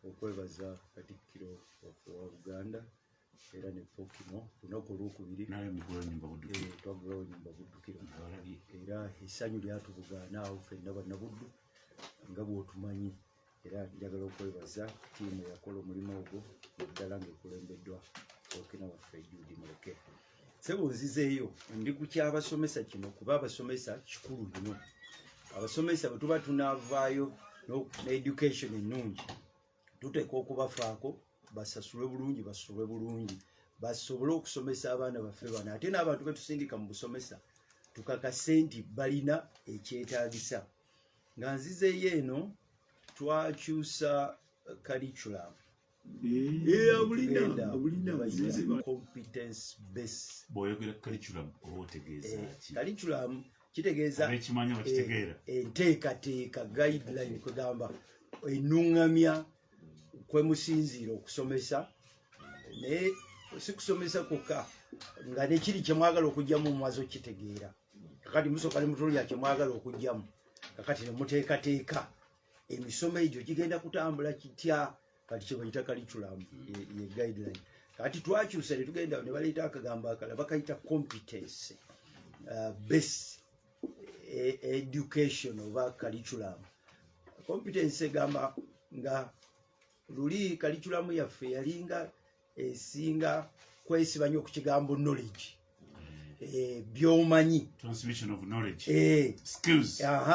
okwebaza Katikkiro waffe wa Buganda era ne Pokimo lunaku olwokubiri twagulawo nyumba Buddukiro era essanyu lyatubugaana awo fenna bannabuddu nga bwotumanyi era njagala okwebaza tiimu eyakola omulimu ogwo naddala ngaekulembeddwa okina waffe Judy Muleke sebo nzizeeyo ndi ku kyabasomesa kino kuba abasomesa kikulu bino abasomesa bwe tuba tunavaayo needucation ennungi tuteeka okubafaako basasulwe bulungi basulwe bulungi basobole okusomesa abaana baffe bano ate n'abantu betusindika mu busomesa tukakase nti balina ekyetaagisa nga nzizeeyo eno twakyusa kaliculamu bwoyogera curriculum oba otegeeza eh, ki curriculum kitegeeza ekimanya bakitegeera eh, enteekateeka guideline kwegamba enungamya kwemusinziira okusomesa naye sikusomesa kwokka nga nekiri kyemwagala okugyamu omwaza okitegeera kakati musooka ne mutunuya kyemwagala okugyamu kakati nemuteekateeka emisomo egyo gigenda kutambula kitya kati kyebayita curriculum ye guideline kati twakyusa ne tugenda ne baleeta akagambo akala bakayita competency uh, base e, education oba curriculum competency egamba nga luli curriculum yaffe yalinga esinga kwesiba nyo ku kigambo knowledge eh, byomanyi eh,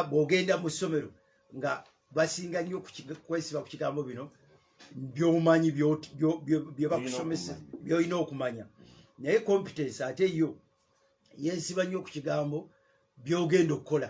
bwogenda mu ssomero nga basinga nyo kwesiba ku kigambo bino byomanyi byebakusomesa byolina okumanya naye competence ate yo yesiba nyo ku kigambo byogenda okukola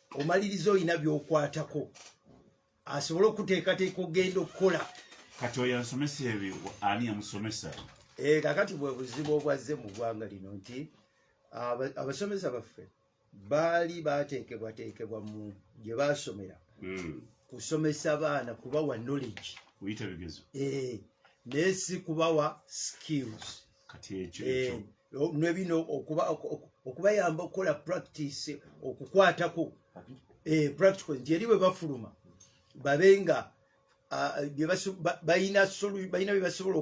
omaliriza olina byokwatako asobole okuteekateeka okugenda okukola kati oyo ansomesa ebyo ani yamusomesa eh, kakati bwe buzibu obwazze mu ggwanga lino nti abasomesa baffe baali bateekebwateekebwa mu gye baasomera hmm. kusomesa baana kubawa knowledge kuyita bigezo eh, naye si kubawa skills kati ekyo eh, nebino okuba okubayamba okukola practice okukwatako eh, practical nti eri bwe bafuluma babe nga balina byebasobola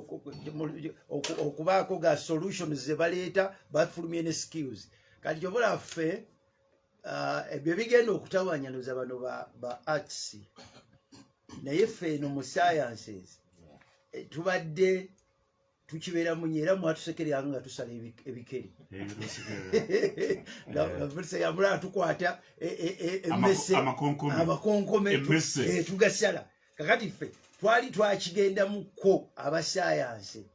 okubaako ga solution zebaleeta bafulumye ne skills kati kyobola ffe ah, ebyo bigenda okutawanyanuza bano ba arts naye ffe eno mu sciences eh, tubadde tukibeera munye era mwatusekereranga nga tusala ebikere navulisa yamula atukwata emese amakonkome tugasala kakati ffe twali twakigendamukko abasayansi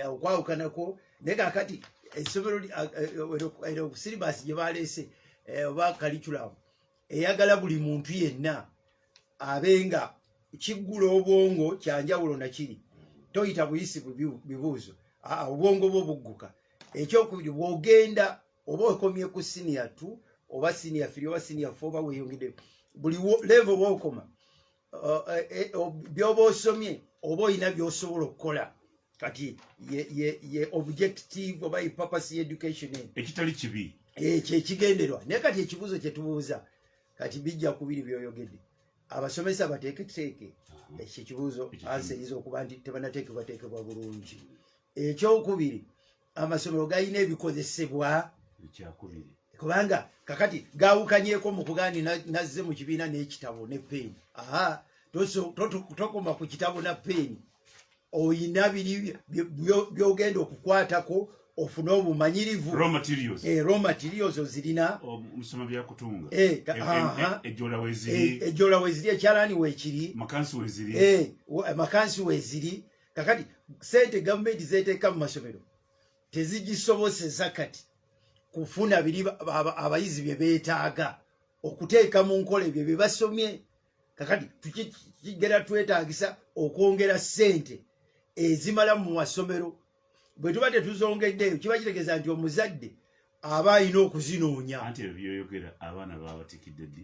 okwawukanako naye kakati esomero silibasi gye baleese oba kaliculamu eyagala buli muntu yenna abenga kiggula obwongo kyanjawulo nakiri toyita buyisi bibuuzo aa obwongo bwo bugguka ekyokubiri bwogenda oba okomye ku siniya t oba siniya firi oba siniya fe oba weyongedde buli levo bwokoma eh, eh, byoba osomye oba olina byosobola okukola kati ye objective oba epurpose yeeducation ekitali kibi eh, kyekigenderwa naye kati ekibuuzo kyetubuuza kati bijja kubiri byoyogedde abasomesa bateeketeeke ekyo ekibuuzo ansa eyinza okuba nti tebanateekebwateekebwa bulungi ekyokubiri amasomero galina ebikozesebwa ekyakubiri kubanga kakati gawukanyeko mu kugandi nazze mu kibiina n'ekitabo ne peeni aha tokoma ku kitabo na peeni oyina biri byogenda okukwatako ofune obumanyirivu raw materials eh raw materials ozirina omusoma bya kutunga eh ejola weziri ejola weziri ekyalani wekiri makansi weziri eh makansi weziri kakati sente gavumenti zeteeka mu masomero tezigisoboseza kati kufuna biri abayizi bye beetaaga okuteeka mu nkola ebyo bye basomye kakati tukigera twetaagisa okwongera sente ezimala mu masomero bwe tuba tetuzongeddeeyo kiba kitegeeza nti omuzadde aba alina okuzinoonya anti ebyo byoyogera abaana babatikidde ddi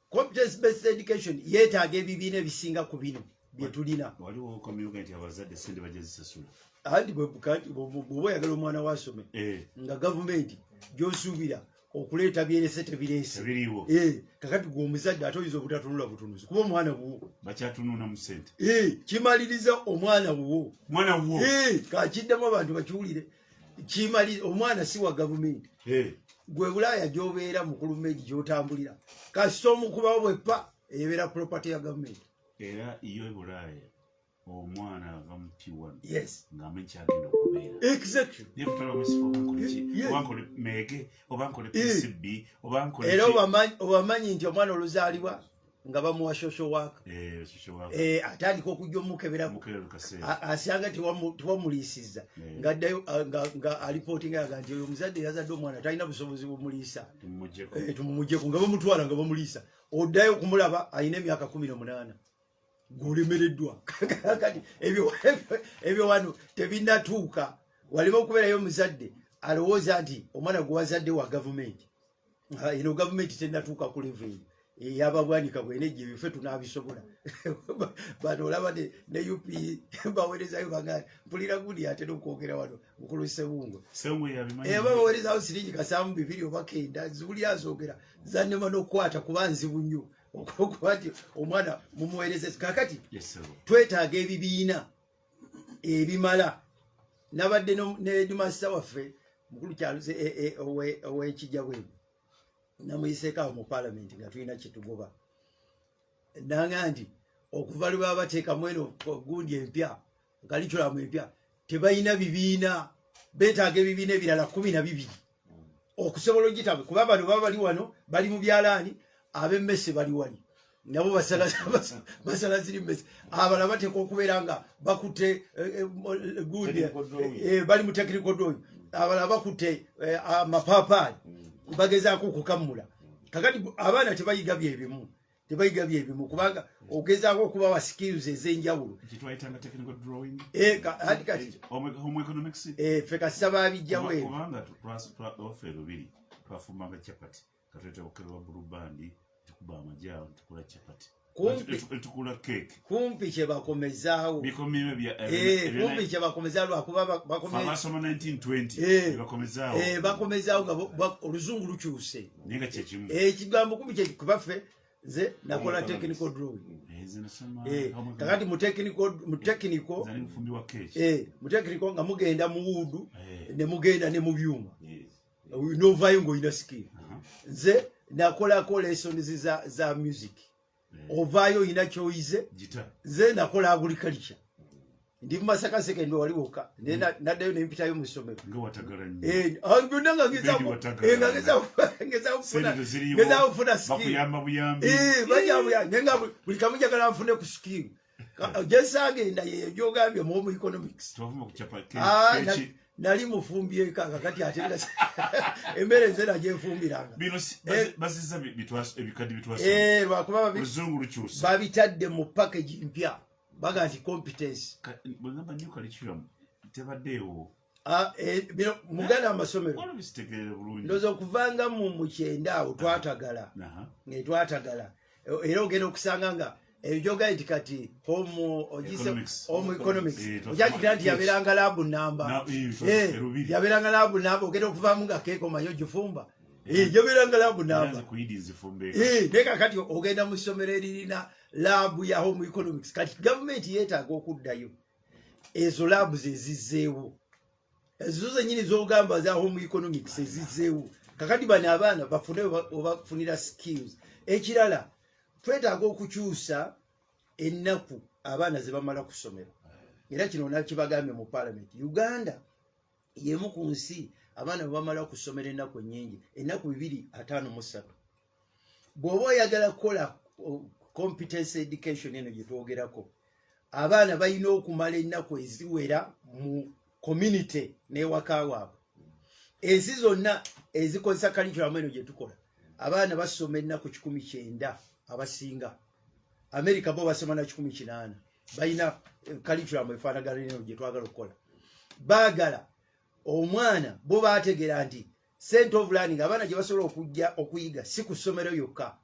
competence based education yetaaga ebibiina ebisinga ku bino byetulina waliwo okomyuka nti abazadde sente bajja zisasula anti bwoba oyagala omwana wasome eh. nga gavumenti gyosuubira okuleeta byerese tebireese eh, kakati gwe omuzadde ate oyinza obutatunula butunuzi kuba omwana wuwo bakyatununa mu sente eh, kimaliriza omwana wuwo kakiddamu abantu bakiwulire kimali omwana si wa gavumenti gwe bulaaya gyobeera mukulu meji gyotambulira kasita omukubawo bwepa ebeera property ya gavumenti era iyo ebulaaya omwana ava mu t1 ngamanyi kyagenda okubeera era obamanyi nti omwana oluzaalibwa nga bamuwa social work eh, eh, atandika okujja omukeberaku asyanga tewamuliisizza eh. ngaddayo ah, nga alipootinga yaga nti oyo omuzadde yazadde omwana talina busobozi bumuliisa tumumujeko nga bamutwala nga bamuliisa oddayo okumulaba alina emyaka kumi nomunaana gwolemereddwa kati ebyo wano tebinatuuka walema okubeerayo omuzadde alowooza nti omwana gwewazadde wa gavumenti eno gavumenti tenatuuka ku levo eyo eyababwanika bwene gye bife tunabisobola bano olaba ne up bawerezayo baga mpulira gundi atera okwogera wano mukulu sebungo eba bawerezayo siringi kasamu bibiri obakenda zibuli azogera zanema nokukwata kuba nzibu nnyo okuba nti omwana mumuwereze kakati twetaaga ebibiina ebimala nabadde nedimasita waffe mukulu kyaluze e, e, owekijja bwe namuyiseeko awo mu palamenti nga tulina kyetugoba nanga nti okuva lwe baba bateekamu eno gundi empya kalikulamu empya tebalina bibiina betaaga ebibiina ebirala kumi na bibiri okusobola ogitabwe kuba bano baba bali wano bali mu byalaani abemmese bali wani nabo basala ziri mmese abala bateeka okubeera nga bakutte eh, eh, gundi eh, bali mu tekirikodooyo abala bakutte amapaapaali mm. bagezaako okukammula kakati abaana tebayiga byebimu tebayiga byebimu kubanga ogezaako okubawa skills ez'enjawulo ffe kasita babijjawo twafumbanga chapati katuleta bukerwa bulubandi tukuba amajaawo tukula chapati tukula cake kumpi kyebakomezaawo kumpi kyebakomezaawo lwakuba bakomezaawo nga oluzungu lukyuse ekigambo kumpi kyekubaffe nze nakola technical drawing kakati mutekiniko nga mugenda muwuudu nemugenda ne mu byuma novayo ngaolina sikiri nze nakolako lessons za music ovaayo oyina kyoyize nze nakola agriculture ndi mumasaka sekendi wali woka naddayo nempitayo mu ssomero byonna nga ngezakufuna skilbajabuyanga nga buli kamu njagala nfune ku skill gyesagenda hmm. yeyo gyogambye mu omu economics ah, nali mufumbyeko akakati ate emmere nze nagyefumbiranga babitadde mu package mpya baga nti competence tebaddeewo Ah, eh, muganda amasomero ndoza okuvanga mu mukyenda awo twatagala ne twatagala e, era ogenda okusanga nga ebyoga nti kati home ogise home economics ojagira nti yaberanga labu namba eh, yaberanga labu namba ogenda okuvamu nga keeko manyi ogifumba eh, yaberanga labu namba naye kakati ogenda mu ssomero eririna labu ya home economics kati gavumenti yetaaga okuddayo ezo laabu zezizzeewo ezo zenyini zogamba za home economics ezizzeewo kakati bano abaana bafune obafunira skills ekirala twetaaga okukyusa ennaku abaana ze bamala ku ssomero era kino nakibagambye mu palamenti uganda yemu ku nsi abaana bwe bamala ku ssomero ennaku ennyingi ennaku bibiri ataano mu ssatu bw'oba oyagala kukola competence education eno gye twogerako abaana balina okumala ennaku eziwera mu community n'ewaka waabwe ensi zonna ezikozesa kalikiramu eno gye tukola abaana basoma ennaku kikumi kyenda abasinga amerika bo basoma na kikumi kinaana balina kalikiramu eh, efaanagana eno gye twagala okukola baagala omwana bo baategeera nti sente of learning abaana gye basobola okujja okuyiga si ku ssomero yokka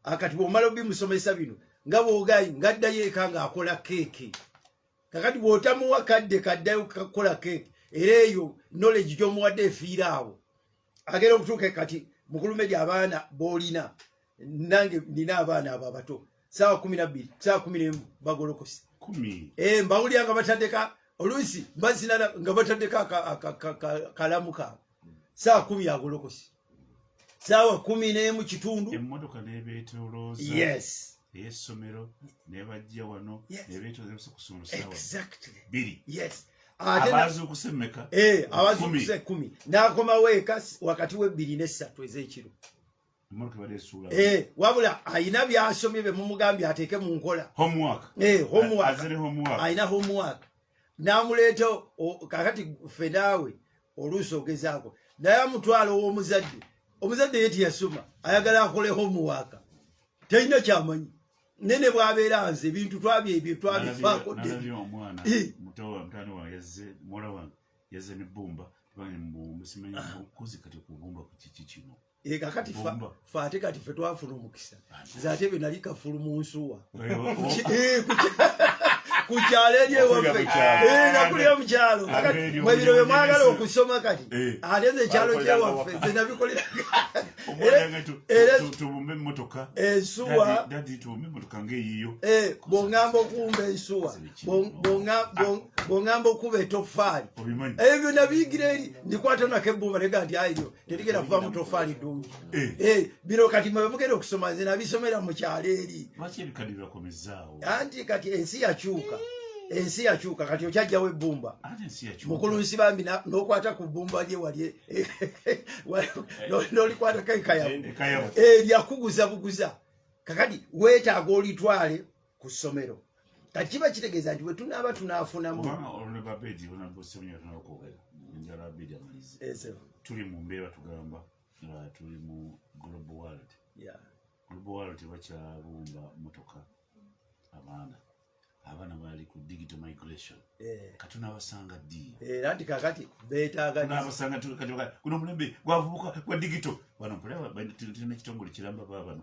akati bwomala obimusomesa bino nga bwogayi ngaddayo eka ng'akola keeki kakati bw'otamuwa kadde kaddayo kukola keeki era eyo knowledge gy'omuwadde efiira awo agenda okutuuka kati mukulume gy abaana boolina nange nina abaana abo abato saawa kumi nabbiri saawa kumi nemu bagolokose eh, mbawulira nga batandeka oluusi bazinala nga batandeka kalamu kaabo saawa kumi agolokose saawa kumi nemu kitundu emotoka nebetoloza yes eyesomero nebajja wano nebetoloza kusoma saawa biri yes abazukusemeka eh, abazukusa ekumi nakomawo eka wakati webbiri nesatu ezekiro Eh, wabula ayina byasomye bye mumugambye ateeke mu nkola eh, ayina homework namuleeta kakati fe naawe oluusi ogezaako naye amutwala ow'omuzadde omuzadde ye tiyasoma ayagala akole homework talina kyamanyi naye ne bwabeera nze ebintu twabye ebyo twabifaako dde e kakati fa ate kati fe twafuna omukisa nze ate bwe nali kafulu mu nsuwa ku kyalo eri ewaffe eh, nakulira mu kyalo mwebiro bye mwagala okusoma kati eh. ate nze ekyalo kyewaffe nze nabikolera ensuwa bwongamba okumba ensuwa bwongamba okuba etofaali ebyo byonna biyigira eri ndikwata nako ebbuba nega nti ayo terigera kuva mutofaali ddungi eh. eh, bino kati mwe bemugenda okusoma nze nabisomera mu kyalo eri anti kati ensi yakyuka ensi yakyuka kati okyajjawo ebbumba mukulu nsi bambi nokwata ku bbumba lye wali nolikwatako ekayabu eh, lyakuguza buguza kakati wetaaga olitwale ku ssomero kati kiba kitegeeza nti bwetunaaba tunaafunamu tuli mu mbeera tugamba nga tuli mu global world global world tebakyabumba motoka abaana abaana bali ku digital migration eh. katunabasanga ddi eh, anti kakati betaaganabasanga kuno omulembe gwavubuka gwa digital bano kulaba tulina ekitongole kiramba ba bano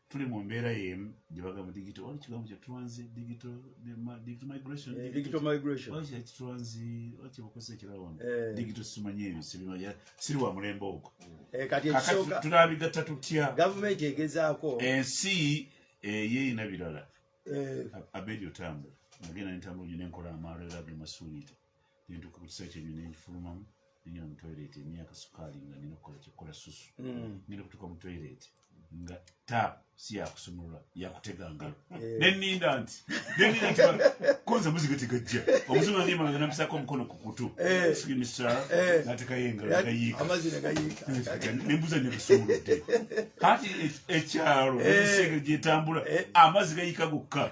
tuli mu mbeera yemu gyebaga mu digito wali kigambo kya transi digito migration eh, digito migration wali kya transi wali kibukozesa ekirala wano eh. digito simanyi ebyo sibimanya siri wa mulembe ogwo eh, kati ekisooka tunabigatta tutya gavumenti egezaako ensi eyeyina birala abedi otambula nagenda nentambula nyo nenkola amaalo era ge masuulite nentuuka ku kiseera kyenyo nenfulumamu nengenda mu toilet emyaka sukaali nga nina okukola kyekola susu mm. ngenda okutuuka mu toilet nga tap si yakusumulula yakutega ngalo eh. neninda nti neninda nti konza muziga tegajja omuzungu andi emabega nampisako omukono ku kutu eh. sigimisala eh. natekayo engalo negayiika nembuza negasumuludde kati ekyalo ebiseege gyetambula amazzi gayiika gokka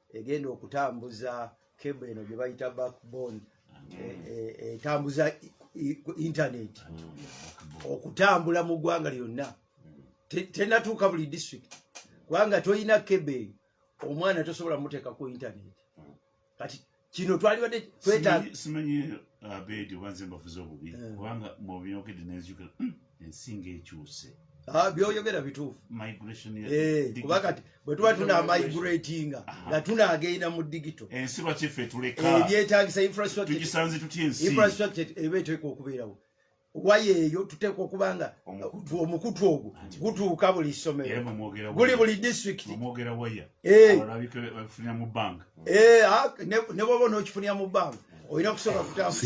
egenda okutambuza kebo eno gye bayita backbone etambuza e, e, e, internet okutambula mu ggwanga lyonna tenatuuka buli district kubanga tolina kebe omwana tosobola muteeka ku internet kati kino twalibadde twetaaga simanyi uh, abeedi oba nze mbafuza obubi eh. kubanga mwobyogedde nenzijukira hmm. ensi ng'ekyuse ah, byoyogera bituufu eh, kuba kati bwe tuba tunamaiguratinga nga tunagenda mu digito ensi lwaki ffe tuleka eh, ebyetagisa infrastructuretugisanze tutya ensi infrastructure eba eteeka okubeerawo waya eyo tuteekwa okuba nga omukutu ogwo gutuuka buli ssomero guli buli disitulikiti eh. ah, ne bwoba onookifunira mu bbanga olina okusooka kutambuza